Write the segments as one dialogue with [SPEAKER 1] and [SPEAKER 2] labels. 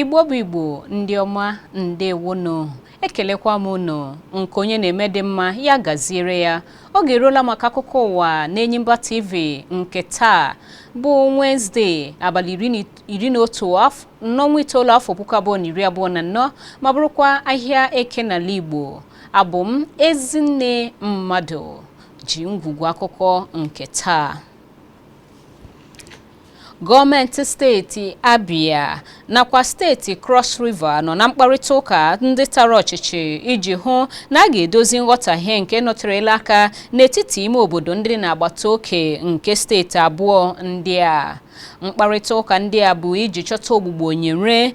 [SPEAKER 1] igbo bụ igbo ndị ọma ndewonụ ekelekwa m unu nke onye na-eme dị mma ya gaziere ya oge eruola maka akụkọ ụwa na Enyimba TV nke taa bụ Wednesday abalị iri na iri na otu n'ọnwa itoolu afọ puku abụọ na iri abụọ na anọ ma bụrụkwa ahịa eke n'ala Igbo abụ m Ezinne Mmadụ ji ngwugwu akụkọ nke taa gọọmenti steeti Abia nakwa steeti Cross River nọ na mkparịta ụka ndị tara ọchịchị iji hụ na a ga-edozi nghọtahie nke nọterela aka n'etiti ime obodo ndị na-agbata oke nke steeti abụọ ndị a mkparịta ụka ndị a bụ iji chọta ogbugbo nyere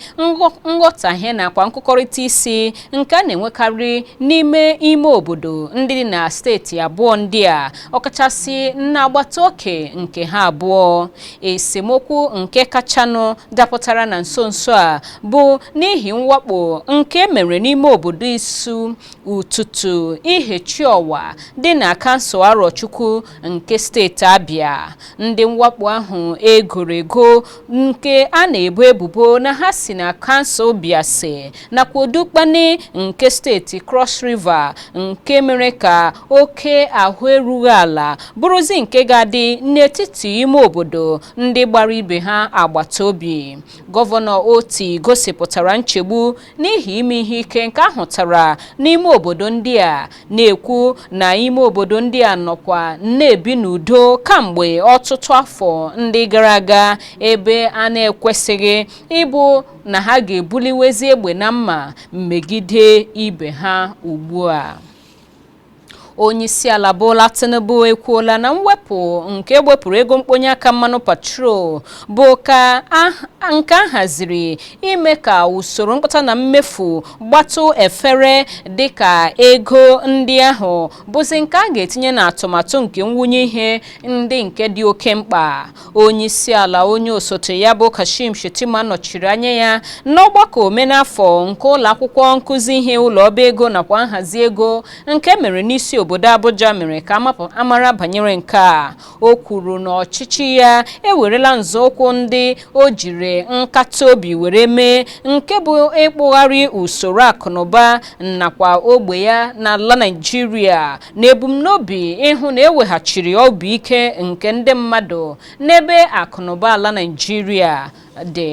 [SPEAKER 1] nghọtahie nakwa nkụkọrịta isi nke a na-enwekarị n'ime ime obodo ndị dị na steeti abụọ ndị a ọkachasị n'agbata oke nke ha abụọ esemokwu nke kachanụ dapụtara na nso nso a bụ n'ihi mwakpo nke e mere n'ime obodo Isu Ututu Ihechiowa dị na kansụl Arọchukwu nke steeti Abia ndị mwakpo ahụ e goro ego nke a na-ebo ebubo na ha si na kansụl Biase nakwa Odukpani nke steeti Cross River nke mere ka oke ahụ erughị ala bụrụzi nke ga-adị n'etiti ime obodo ndị gbara ibe ha agbata obi gọvanọ Otti gosipụtara nchegbu n'ihi ime ihe ike nke a hụtara n'ime obodo ndị a na-ekwu na ime obodo ndị a nọkwa na-ebi n'udo kamgbe ọtụtụ afọ ndị gara aga ebe a na-ekwesịghị ịbụ na ha ga-ebuliwezi egbe na mma megide ibe ha ugbu a onyeisiala Bola Tinubu ekwuola na mwepụ nke e wepụrụ ego mkponye aka mmanụ petrol bụkwa nke a haziri ime ka usoro mkpata na mmefu gbatụ efere dịka ego ndị ahụ bụzi nke a ga-etinye n'atụmatụ nke mwunye ihe ndị nke dị oke mkpa onyeisiala onye osote ya bụ Kashim Shettima nọchiri anya ya n'ọgbakọ omenafọ nke ụlọ akwụkwọ nkụzi ihe ụlọ ọba ego nakwa nhazi ego nke mere n'isi obodo Abuja mere ka a mara banyere nke a o kwuru na ọchịchị ya ewerela nzọụkwụ ndị o jiri nkata obi were mee nke bụ ịkpụgharị usoro akụnụba nakwa ogbe ya n'ala Naịjirịa n'ebumnobi ịhụ na eweghachiri obi ike nke ndị mmadụ n'ebe akụnụba ala Naịjirịa dị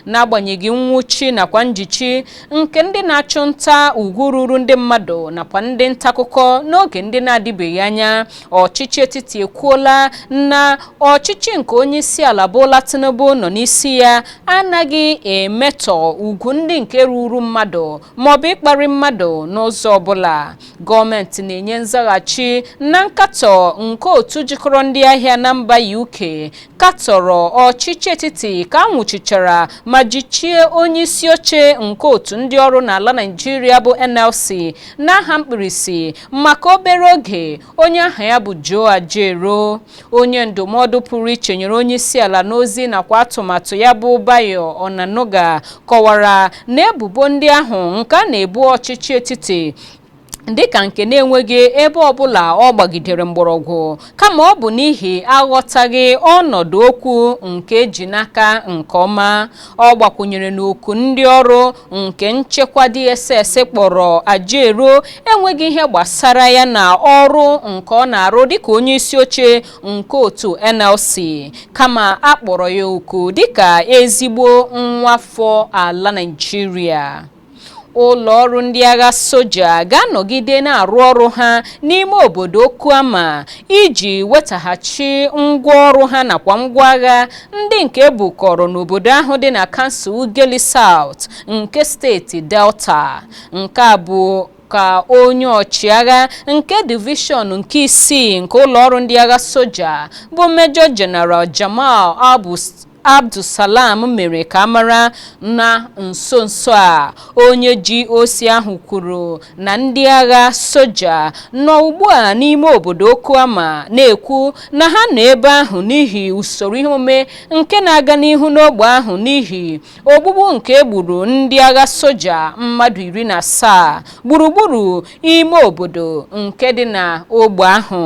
[SPEAKER 1] n'agbanyeghị nwụchi nakwa njichi nke ndị na-achụ nta ugwu ruru ndị mmadụ nakwa ndị nta akụkọ n'oge ndị na-adịbeghị anya ọchịchị etiti ekwuola na ọchịchị nke onye isi ala Bola Tinubu nọ n'isi ya anaghị emetọ ugwu ndị nke ruru mmadụ maọbụ ịkparị mmadụ n'ụzọ ọbụla gọọmenti na-enye nzaghachi na nkatọ nke otu jikọrọ ndị ahịa na mba UK katọrọ ọchịchị etiti ka a nwụchichara ma jichie onye isi oche nke otu ndị ọrụ n'ala Naịjirịa bụ NLC n'aha mkpirisi maka obere oge onye aha ya bụ Joe Ajaero onye ndụmọdụ pụrụ iche nyere onye isi ala n'ozi nakwa atụmatụ ya bụ Bayo Onanuga kọwara na ebubo ndị ahụ nke a na-ebu ọchịchị etiti dịka nke na-enweghị ebe ọbụla ọ gbagidere mgbọrọgwụ kama ọ bụ n'ihi aghọtaghị ọnọdụ okwu nke eji n'aka nke ọma ọ gbakwunyere na oku ndị ọrụ nke nchekwa DSS kpọrọ Ajaero enweghị ihe gbasara ya na ọrụ nke ọ na-arụ dịka onye isi oche nke otu NLC kama a kpọrọ ya oku dịka ezigbo nwafọ ala Naịjirịa ụlọ ọrụ ndị agha soja ga-anọgide na-arụ ọrụ ha n'ime obodo Okuama iji wetaghachi ngwa ọrụ ha nakwa ngwa agha ndị nke ebukọrọ n'obodo ahụ dị na kansụl Ughelli South nke steeti Delta nke a bụ ka onye ọchịagha nke divishọn nke isii nke ụlọọrụ ndị agha soja bụ Major General Jamal Abu Abdussalam mere ka a mara na nso nso a onye GOC ahụ kwuru na ndị agha soja nọ ugbu a n'ime obodo Okuama na-ekwu na ha nọ ebe ahụ n'ihi usoro ihe omume nke na-aga n'ihu n'ogbe ahụ n'ihi ogbugbu nke egburu ndị agha soja mmadụ iri na asaa gburugburu ime obodo nke dị na ogbe ahụ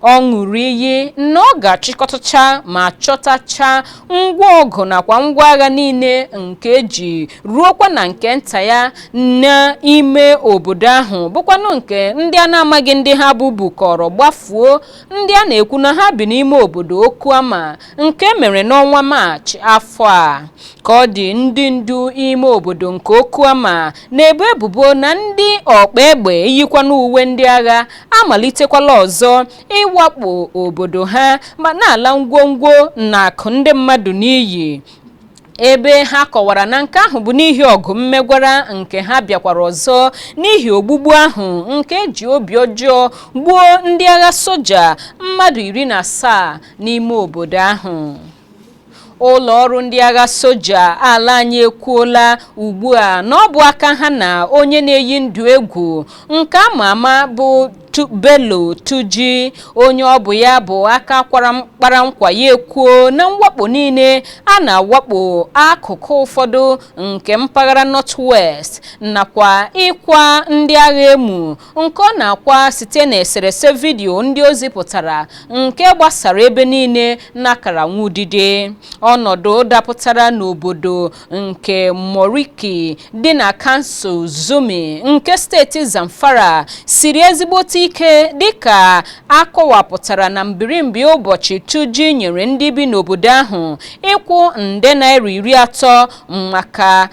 [SPEAKER 1] ọ ṅụrụ iyi na ọ ga-achịkọtacha ma chọtacha ngwa ọgụ nakwa ngwa agha niile nke eji ruokwa na nke nta ya n'ime obodo ahụ bụkwanụ nke ndị a na-amaghị ndị ha bụ bukọrọ gbafuo ndị a na-ekwu na ha bi n'ime obodo Okuama nke mere n'ọnwa maachị afọ a ka ọ dị ndị ndu ime obodo nke Okuama na-ebo ebubo na ndị ọkpa egbe yikwanụ uwe ndị agha amalitekwala ọzọ ịwakpo obodo ha ma na-ala ngwongwo na akụ ndị mmadụ n'iyi ebe ha kọwara na nke ahụ bụ n'ihi ọgụ mmegwara nke ha bịakwara ọzọ n'ihi ogbugbu ahụ nke eji obi ọjọọ gbuo ndị agha soja mmadụ iri na asaa n'ime obodo ahụ ụlọ ọrụ ndị agha soja ala anyị ekwuola ugbu a na ọ bụ aka ha na onye na-eyi ndụ egwu nke ama ama bụ Bello Turji onye ọ bụ ya bụ aka kpara nkwa ya ekwuo na mwakpo niile a na-awakpo akụkụ ụfọdụ nke mpaghara North West nakwa ịkwa ndị agha emu nke ọ na-akwa site na eserese vidiyo ndị o zipụtara nke gbasara ebe niile n'akara nwudide ọnọdụ dapụtara n'obodo nke Moriki dị na kansụl Zurmi nke steeti Zamfara siri ezigbote ike dịka akọwapụtara na mbirimbi ụbọchị Turji nyere ndị bi n'obodo ahụ ịkwụ nde naira iri atọ maka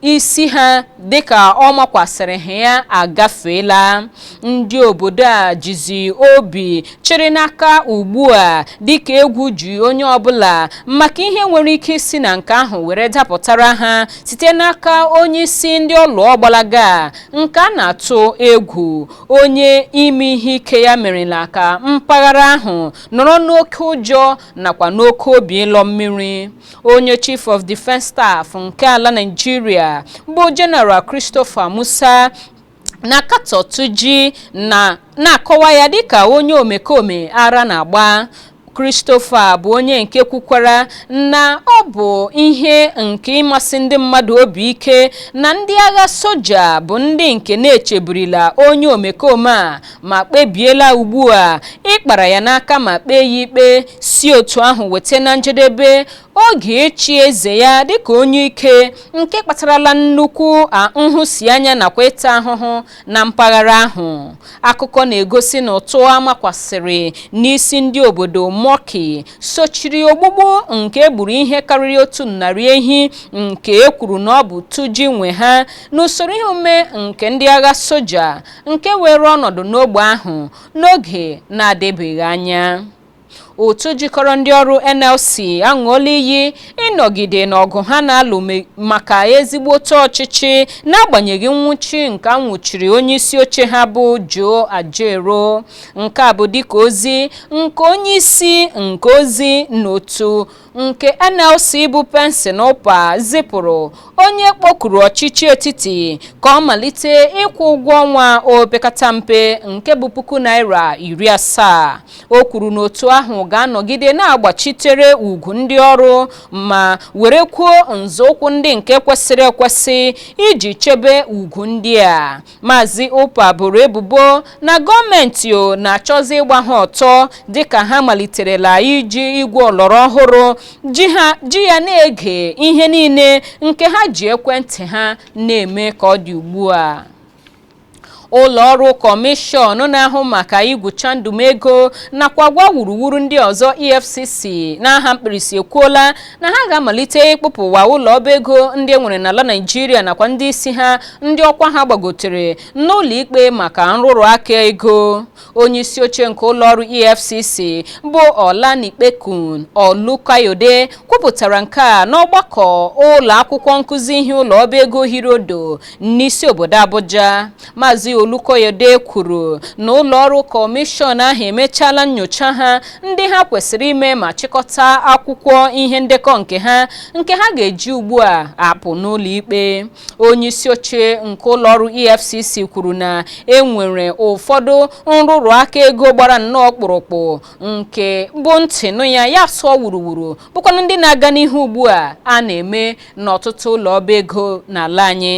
[SPEAKER 1] isi ha dịka ọ makwasịrị ha ya agafeela ndị obodo a jizi obi chịrị n'aka ugbu a dịka egwu ji onye ọbụla maka ihe nwere ike isi na nke ahụ were dapụtara ha site n'aka onye isi ndị ọlụ ọgbalaga nke a na-atụ egwu onye ime ihe ike ya merela ka mpaghara ahụ nọrọ n'oke ụjọ nakwa n'oke obi ịlọ mmiri onye chief of defence staff nke ala naijiria bụ general christopher musa na-akatọ Turji na na-akọwa ya dịka onye omekome ara na-agba Christopher bụ onye nke kwukwara na ọ bụ ihe nke ịmasi ndị mmadụ obi ike na ndị agha soja bụ ndị nke na-echeburila onye omekome a ma kpebiela ugbu a ịkpara ya n'aka ma kpee ya ikpe si otu ahụ weta na njedebe oge ịchị eze ya dịka onye ike nke kpatarala nnukwu nhụsianya nakwa ịta ahụhụ na mpaghara ahụ akụkọ na-egosi na ụtụ amakwasịrị n'isi ndị obodo Moriki sochiri ogbugbu nke egburu ihe karịrị otu narị ehi nke e kwuru na ọ bụ Turji nwe ha n'usoro ihe omume nke ndị agha soja nke were ọnọdụ n'ogbe ahụ n'oge na-adịbeghị anya otu jikọrọ ndị ọrụ NLC aṅụọla iyi ịnọgide n'ọgụ ha na-alụ maka ezigbote ọchịchị n'agbanyeghị nwụchi nke a nwụchiri onye isi oche ha bụ Joe Ajaero nke a bụ dịka ozi nke onye isi nke ozi n'otu nke NLC bụ Benson Upa zipụrụ onye kpọkuru ọchịchị etiti ka ọ malite ịkwụ ụgwọ ọnwa opekata mpe nke bụ puku naira iri asaa o kwuru na otu ahụ ga-anọgide na-agbachitere ugwu ndị ọrụ ma werekwuo nzọụkwụ ndị nke kwesịrị ekwesị iji chebe ugwu ndị a Maazị Upa boro ebubo na gọọmenti o na-achọzi ịgba ha ọtọ dịka ha maliterela iji igwe ọlọrọ ọhụrụ ji ya na-ege ihe niile nke ha ji ekwentị ha na-eme ka ọ dị ugbu a ụlọọrụ kọmishọn na-ahụ maka igwucha ndụmego nakwa agwa wuruwuru ndị ọzọ efcc n'aha mkpirisi ekwuola na ha ga-amalite ịkpụpụwa ụlọ ọba ego ndị e nwere n'ala Naịjirịa nakwa ndị isi ha ndị ọkwa ha gbagotere n'ụlọ ikpe maka nrụrụ aka ego onye isi oche nke ụlọ ọrụ EFCC bụ Olanipekun Olukayode kwupụtara nke a n'ọgbakọ ụlọ akwụkwọ nkụzi ihe ụlọ ọba ego hiri ọdọ n'isi obodo Abuja Maazị Olukoyede kwuru na ụlọọrụ kọmishọn ahụ emechaala nyocha ha ndị ha kwesịrị ime ma chịkọta akwụkwọ ihe ndekọ nke ha nke ha ga-eji ugbu a akpụ n'ụlọikpe onyeisi oche nke ụlọọrụ EFCC kwuru na enwere ụfọdụ nrụrụ aka ego gbara nnọọ kpụrụkpụ nke bụ ntị nụ ya ya sụọ wuruwuru bụkwanụ ndị na-aga n'ihu ugbu a a na-eme n'ọtụtụ ụlọ ọba ego n'ala anyị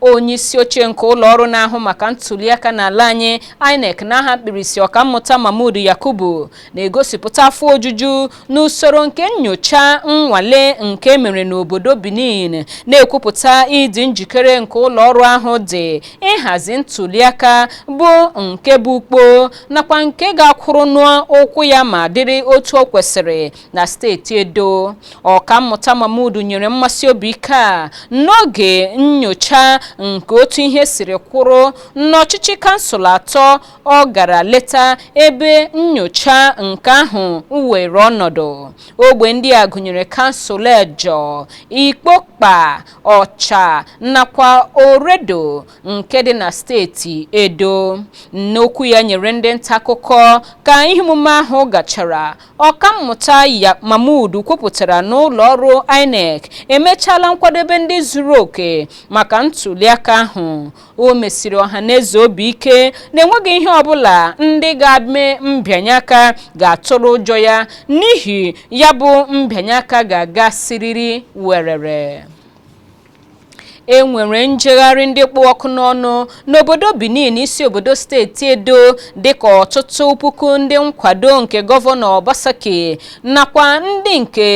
[SPEAKER 1] onye isi oche nke ụlọ ọrụ na-ahụ maka ntuliaka n'ala anyị INEC n'aha mkpirisi ọkammụta Mahmood Yakubu na-egosipụta afọ ojuju n'usoro nke nyocha nnwale nke mere n'obodo Benin na-ekwupụta ịdị njikere nke ụlọ ọrụ ahụ dị ịhazi ntuliaka bụ nke bụ ukpo nakwa nke ga-akwụrụ n'ụkwụ ya ma dịrị otu o kwesịrị na steeti edo ọkammụta mahmud nyere mmesi obi ike a n'oge nyocha nke otu ihe siri kwụrụ n'ọchịchị kansụl atọ ọ gara leta ebe nyocha nke ahụ were ọnọdụ ogbe ndị a gụnyere kansụl egor ikpoba okha nakwa oredo nke dị na steeti edo n'okwu ya nyere ndị nta akụkọ ka ihe omume ahụ gachara Ọkammụta Yak Mahmood kwupụtara na ụlọọrụ INEC emechaala nkwadebe ndị zuru oke maka ntuliaka ahụ. O mesiri ọhaneze obi ike na enweghị ihe ọbụla ndị ga-eme mbịanye aka ga-atụrụ ụjọ ya n'ihi ya bụ mbịanye aka ga-aga siriri werere. e nwere njegharị ndị kpụ ọkụ n'ọnụ n'obodo Benin isi obodo steeti Edo dịka ọtụtụ puku ndị nkwado nke gọvanọ Obaseki nakwa ndị nke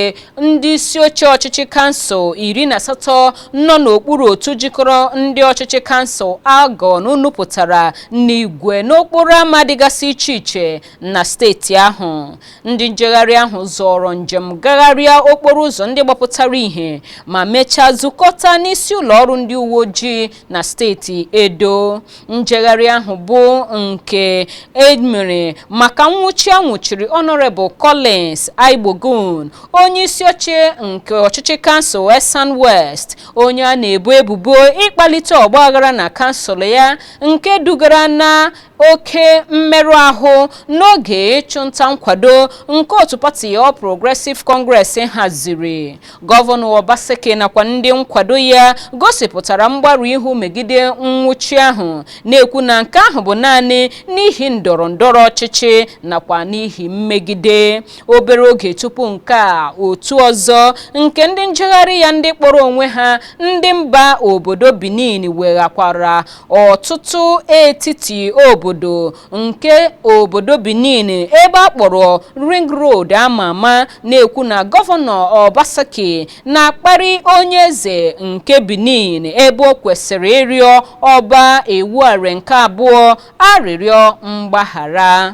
[SPEAKER 1] ndị isi oche ọchịchị kansụl iri na asatọ nọ n'okpuru otu jikọrọ ndị ọchịchị kansụl Algon nupụtara n'igwe n'okporo ama dịgasị iche iche na steeti ahụ ndị njegharị ahụ zọrọ njem gagharịa okporo ụzọ ndị gbapụtara ihe ma mechaa zukọta n'isi ụlọ ọrụ ndị uwe ojii na steeti edo njegharị ahụ bụ nke emere maka nwụchi a nwụchiri ọnọrebụl collins aigbogun onye isi oche nke ọchịchị kansụl esan west onye a na-ebo ebubo ịkpalite ọgbaghara na kansụl ya nke dugara na oke mmerụ ahụ n'oge ịchụnta nkwado nke otu pati All Progressive Congress haziri gọvanọ Obaseki nakwa ndị nkwado ya gosipụtara mgbarụ ihu megide nwụchi ahụ na-ekwu na nke ahụ bụ naanị n'ihi ndọrọ ndọrọ ọchịchị nakwa n'ihi mmegide obere oge tupu nke a otu ọzọ nke ndị njegharị ya ndị kpọrọ onwe ha ndị mba obodo Benin weghakwara ọtụtụ etiti obodo nke obodo benin ebe a kpọrọ ring road ama ama na-ekwu na gọvanọ obaseki na-akparị onye eze nke benin ebe o kwesịrị ịrịọ ọba ewuare nke abụọ arịrịọ mgbaghara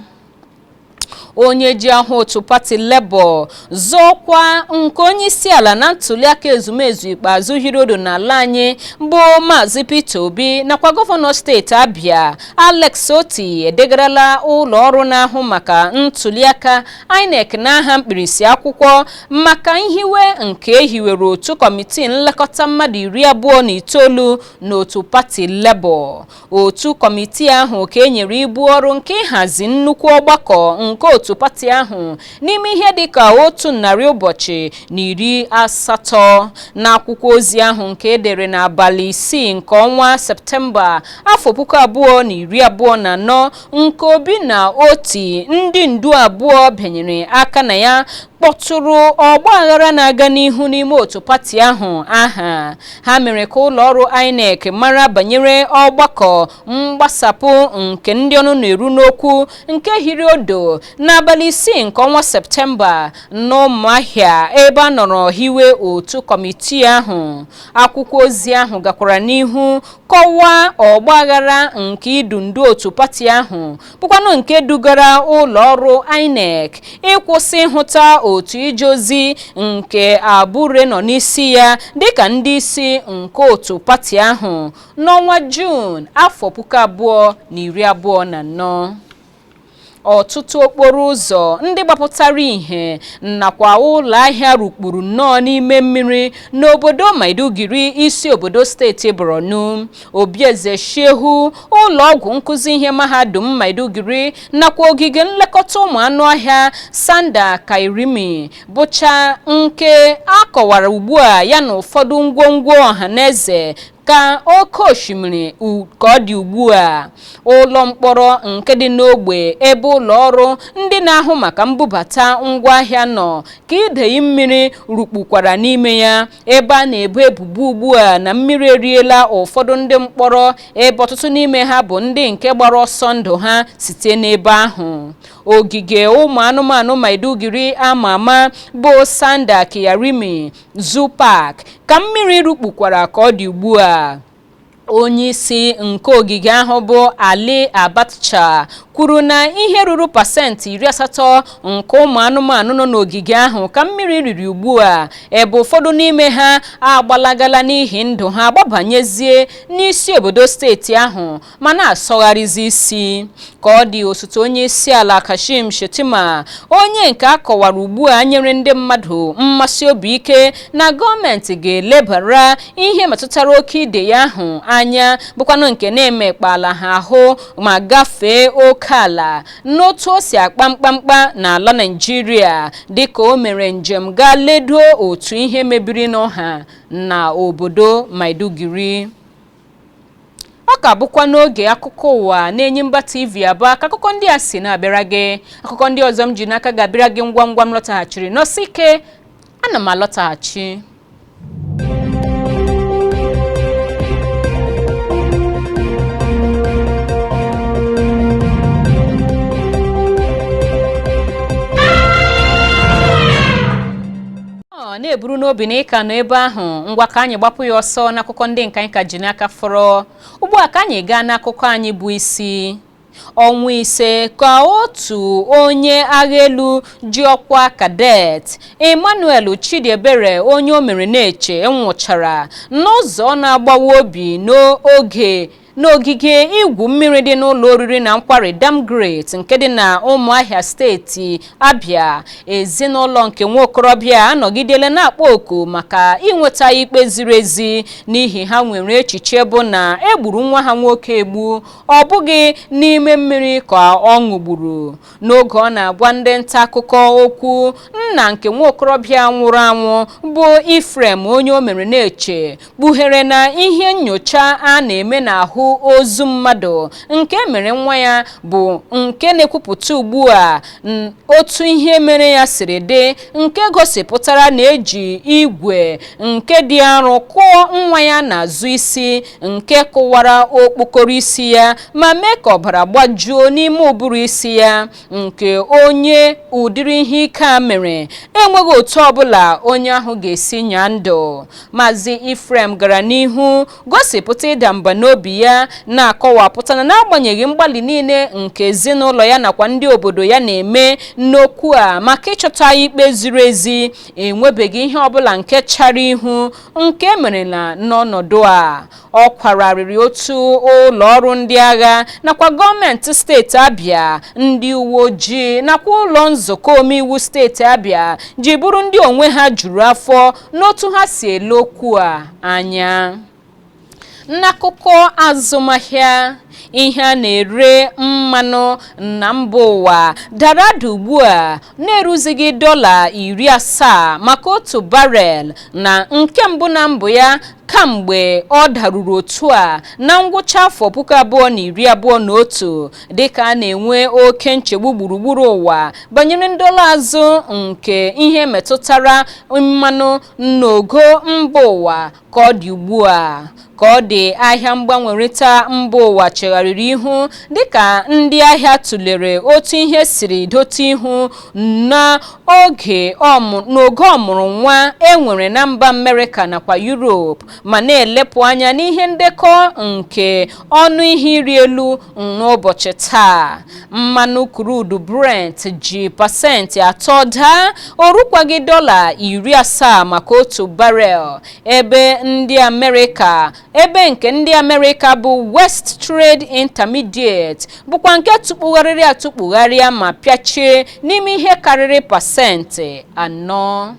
[SPEAKER 1] onye ji aha otu pati Labour zọọ ọkwa nke onye isi ala na ntuliaka ezumezu ikpeazụ hiri odo n'ala anyị bụ Maazị Peter Obi nakwa gọvanọ steeti Abia Alex Otti edegarala ụlọ ọrụ na-ahụ maka ntuliaka INEC n'aha mkpirisi akwụkwọ maka nhiwe nke ehiwere otu kọmitii nlekọta mmadụ iri abụọ na itoolu n'otu pati Labour otu kọmitii ahụ ka e nyere ibu ọrụ nke ịhazi nnukwu ọgbakọ nke otu pati ahụ n'ime ihe dị ka otu narị ụbọchị na iri asatọ n'akwụkwọ ozi ahụ nke edere n'abalị isii nke ọnwa septemba afọ puku abụọ na iri abụọ na anọ nke obi na otti ndị ndu abụọ bịanyere aka na ya kpọtụrụ ọgba aghara na-aga n'ihu n'ime otu pati ahụ aha ha mere ka ụlọ ọrụ INEC mara banyere ọgbakọ mgbasapụ nke ndị ọnụ na-eru n'okwu nke hiri odo n'abalị isii nke ọnwa septemba n'ụmụahịa ebe a nọrọ hiwe otu kọmitii ahụ akwụkwọ ozi ahụ gakwara n'ihu kọwaa ọgbaghara nke idu ndu otu pati ahụ bụkwanụ nke dugara ụlọ ọrụ INEC ịkwụsị ịhụta otu ije ozi nke Abure nọ n'isi ya dịka ndị isi nke otu pati ahụ n'ọnwa Juun afọ puku abụọ na iri abụọ na anọ. ọtụtụ okporo ụzọ ndị gbapụtara ihe nakwa ụlọ ahịa rukpuru nnọọ n'ime mmiri n'obodo Maiduguri isi obodo steeti Borno Obi eze Shehu, ụlọọgwụ nkuzi ihe mahadum Maiduguri nakwa ogige nlekọta ụmụ anụ ọhịa Sanda Kyarimi bụcha nke a kọwara ugbu a ya na ụfọdụ ngwongwo ọha na eze ka oke osimiri ka ọ dị ugbu a ụlọ mkpọrọ nke dị n'ogbe ebe ụlọ ọrụ ndị na-ahụ maka mbubata ngwaahịa nọ ka idei mmiri rukpukwara n'ime ya ebe a na-ebo ebubo ugbu a na mmiri eriela ụfọdụ ndị mkpọrọ ebe ọtụtụ n'ime ha bụ ndị nke gbara ọsọ ndụ ha site n'ebe ahụ ogige ụmụ anụmanụ maiduguri ama ama bụ sanda kyarimi zoo park ka mmiri rukpukwara ka ọ dị ugbu a onyeisi nke ogige ahụ bụ Ali Abatcha kwuru na ihe ruru pasentị iri asatọ nke ụmụ anụmanụ nọ n'ogige ahụ ka mmiri riri ugbu a ebe ụfọdụ n'ime ha agbalagala n'ihi ndụ ha gbabanyezie n'isi obodo steeti ahụ ma na-asọgharịzi isi ka ọ dị osote onye isi ala Kashim Shettima onye nke a kọwara ugbu a nyere ndị mmadụ mmesi obi ike na gọọmenti ga-elebara ihe metụtara oke idei ahụ anya bụkwanụ nke na-emekpala ha ahụ ma gafee oke ala n'otu o si akpa mkpamkpa n'ala Naịjirịa dịka o mere njem gaa ledo otu ihe mebiri n'ọha na obodo Maiduguri ọ ka bụkwa n'oge akụkọ ụwa n'Enyimba TV Aba ka akụkọ ndị a si na-abịara gị akụkọ ndị ọzọ m ji n'aka ga-abịara gị ngwa ngwa m lọtaghachiri nọsie ike ana m alọtaghachi ọ na-eburu n'obi na ị ka nọ ebe ahụ ngwa ka anyị gbapụ ya ọsọ n'akụkọ ndị nke anyị ka ji n'aka fọrọ ugbu a ka anyị gaa n'akụkọ anyị bụ isi ọnwa ise ka otu onye agha elu ji ọkwa cadet Emmanuel Chidiebere Onyeomereneche nwụchara n'ụzọ na-agbawa obi n'oge n'ogige igwu mmiri dị n'ụlọ oriri na nkwari Damgrete nke dị na Ụmụahịa steeti Abịa ezinụlọ nke nwa okorobịa anọgidela na-akpọ oku maka inweta ikpe ziri ezi n'ihi ha nwere echiche bụ na e gburu nwa ha nwoke egbu ọ bụghị n'ime mmiri ka ọ ṅụgburu n'oge ọ na-agwa ndị nta akụkọ okwu nna nke nwa okorobịa nwụrụ anwụ bụ Ephraim Onyeomereneche kpughere na ihe nyocha a na-eme n'ahụ ozu mmadụ nke e mere nwa ya bụ nke na-ekwupụta ugbu a n- otu ihe mere ya siri dị nke gosipụtara na e ji igwe nke dị arọ kụọ nwa ya n'azụ isi nke kụwara okpokoro isi ya ma mee ka ọbara gbajuo n'ime ụbụrụ isi ya nke onye ụdịrị ihe ike a mere enweghị otu ọbụla onye ahụ ga-esi nyaa ndụ maazị Ephraim gara n'ihu gosipụta ịda mba n'obi ya na-akọwapụta na n'agbanyeghị mgbalị niile nke ezinụlọ ya nakwa ndị obodo ya na-eme n'okwu a maka ịchọta ikpe ziri ezi enwebeghị ihe ọbụla nke chara ihu nke e merela n'ọnọdụ a ọ kwara arịrị otu ụlọ ọrụ ndị agha nakwa gọọmenti steeti abịa ndị uwe ojii nakwa ụlọ nzukọ omeiwu steeti abịa ji bụrụ ndị onwe ha juru afọ n'otu ha si ele okwu a anya n'akụkọ azụmahịa ihe a na-ere mmanụ na mba ụwa dara ada ugbu a na-eruzighị dọla iri asaa maka otu barel na nke mbụ na mbụ ya kamgbe ọ daruru otu a na ngwụcha afọ puku abụọ na iri abụọ na otu dịka a na-enwe oke nchegbu gburugburu ụwa banyere ndọla azụ nke ihe metụtara mmanụ n'ogo mba ụwa ka ọ dị ugbu a ka ọ dị ahịa mgbanwerịta mba ụwa chegharịrị ihu dịka ndị ahịa tụlere otu ihe siri dote ihu n'oge ọmụrụ nwa e nwere na mba Amerịka nakwa Yurop ma na-elepụ anya n'ihe ndekọ nke ọnụ ihe ịrị elu n'ụbọchị taa mmanụ crude Brent ji pasentị atọ daa o rukwaghị dọla iri asaa maka otu barel ebe ndị Amerịka ebe nke ndị amerịka bụ west trade intermediate bụkwa nke tụkpugharịrị atụkpugharịa ma pịachie n'ime ihe karịrị pasentị anọ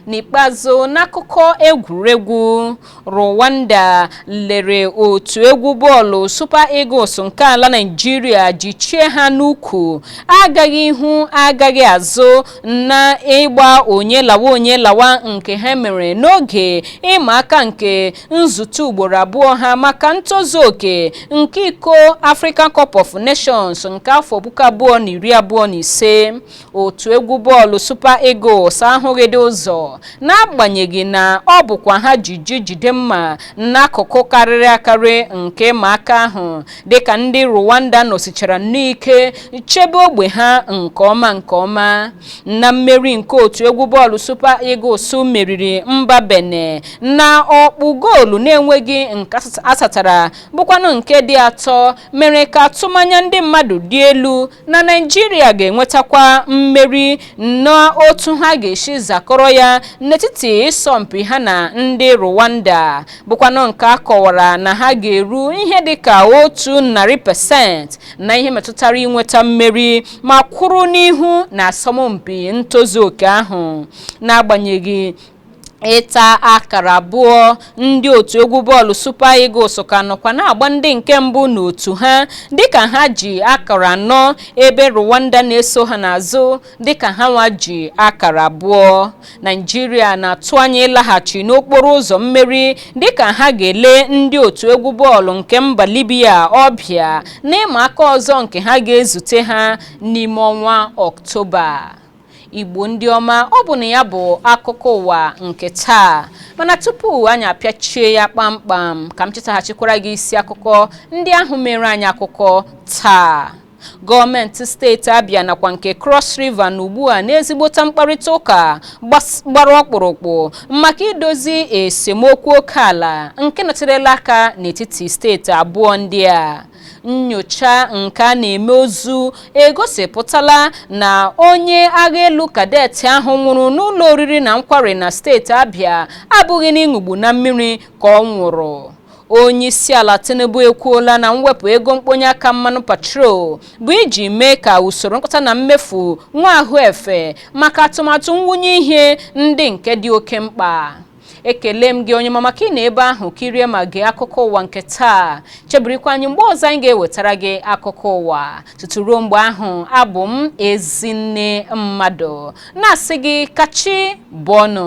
[SPEAKER 1] n'ikpeazụ n'akụkọ egwuregwu rwanda lere otu egwu bọọlụ super eagles nke ala naijiria jichie ha n'ukwu agaghị ihu agaghị azụ na ịgba onye lawa onye lawa nke ha mere n'oge ịma aka nke nzute ugboro abụọ ha maka ntozu oke nke iko African Cup of Nations nke afọ puku abụọ na iri abụọ na ise otu egwu bọọlụ Super Eagles ahụghịdị ụzọ n'agbanyeghị na ọ bụkwa ha ji ji jide mma n'akụkụ karịrị akarị nke ịma aka ahụ dịka ndị Rwanda nọsichara n'ike chebe ogbe ha nke ọma nke ọma na mmeri nke otu egwu bọọlụ Super Eagles meriri mba Benin na ọkpụ goolu na-enweghị nke a satara bụkwanụ nke dị atọ mere ka atụmanya ndị mmadụ dị elu na naijiria ga-enwetakwa mmeri n'otu ha ga-esi zakọrọ ya n'etiti ịsọmpi ha na ndị rwanda bụkwanụ nke a kọwara na ha ga-eru ihe dị ka otu narị pasent na ihe metụtara inweta mmeri ma kwụrụ n'ihu na asọmpi ntozu oke ahụ n'agbanyeghị ịta akara abụọ ndị otu egwu bọọlụ Super Eagles ka nọkwa na-agba ndị nke mbụ n'otu ha dịka ha ji akara anọ ebe Rwanda na-eso ha n'azụ dịka ha nwa ji akara abụọ Naijiria na-atụ anya ịlaghachi n'okporo ụzọ mmeri dịka ha ga-ele ndị otu egwu bọọlụ nke mba Libya ọbịa n'ịma aka ọzọ nke ha ga-ezute ha n'ime ọnwa Ọktoba igbo ndị ọma ọ bụ na ya bụ akụkọ ụwa nke taa mana tupu anyị apịachie ya kpamkpam ka m chetaghachikwara gị isi akụkọ ndị ahụ mere anyị akụkọ taa gọọmenti steeti abịa nakwa nke cross river nọ ugbu a n'ezigbote mkparịta ụka gbara ọkpụrụkpụ maka idozi esemokwu oke ala nke nọterela aka n'etiti steeti abụọ ndị a Nnyocha nke a na-eme ozu egosipụtala na onye agha elu kadet ahụ nwụrụ n'ụlọ oriri na nkwari na steeti Abia abụghị n'ịṅụgbu na mmiri ka ọ nwụrụ. Onyeisiala Tinubu ekwuola na mwepụ ego mkponye aka mmanụ petrol bụ iji mee ka usoro nkọta na mmefu nwee ahụ efe maka atụmatụ mwụnye ihe ndị nke dị oke mkpa. ekelee m gị onye ọma maka ịnọ ebe ahụ kirie ma gee akụkọ ụwa nke taa chebirikwa anyị mgbe ọzọ anyị ga-ewetara gị akụkọ ụwa tutu ruo mgbe ahụ abụ m ezinne mmadụ na-asị gị ka chi bọọ nụ